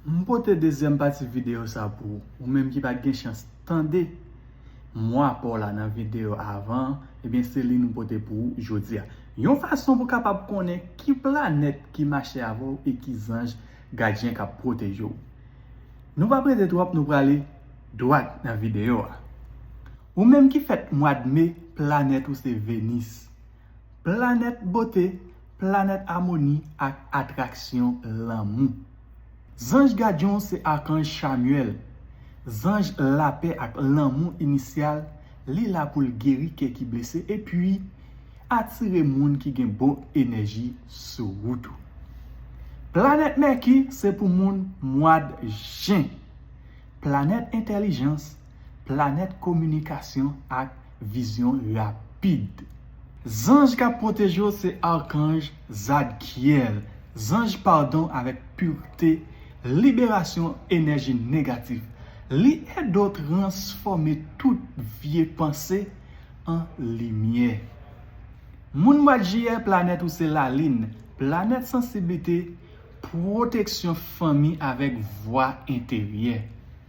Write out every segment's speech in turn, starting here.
M pote dezyèm pati videyo sa pou ou, ou menm ki pat gen chans tande mwa pa w la nan videyo avan an, ebyen se li nou pote pou ou jodi a. Yon fason pou kapab konnen ki planèt ki mache avè w e ki zanj gadyen k ap pwoteje w. Nou pa prese twòp nou prale dwat nan videyo a. Ou menm ki fèt mwad Me, planèt ou se Venis. Planèt bote, planèt amoni ak atraksyon lanmou. Zanj gadyon se akanj Chamyèl, zanj lapè ak lanmou inisyal, li la pou l geri kè ki blese epi atire moun ki gen bon enèji sou wout ou. Planèt Mèki se pou moun mwad Jen. Planèt entèlijans, Planèt kominikasyon ak vizyon rapid. Zanj k ap pwoteje w se Arkanj Zadkiel, zanj padon avèk purte, liberasyon enèji negatif. Li ede w transfòme tout vye panse an limyè. Moun mwa Jiyè planèt ou se Lalin, planèt sansiblite, pwoteksyon fanmi avèk vwa enteryè.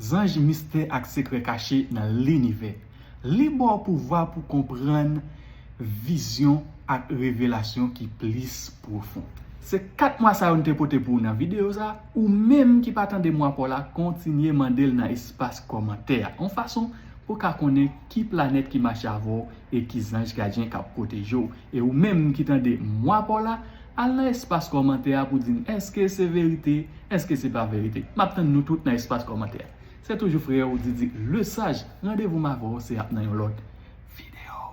Zanj Mistè ak sekrè kache nan linivè. Li ba w pouvwa pou konprann vizyon ak revelasyon ki plis pwofon. Se 4 mwa sa yo n te pote pou ou nan videyo sa, ou menm ki pa tande mwa pa w la kontinye mande l nan espas kòmantè a, yon fason pou w ka konnen ki planèt ki mache avè w e ki zanj gadyen k ap pwoteje w E ou menm ki tande mwa paw la, al nan espas kòmantè a pou di m èske se verite, èske se pa verite. M ap tann nou tout nan espas kòmantè a. Se toujou frè ou Didi Lesage, randevou m avè w se ap nan yon lòt videyo.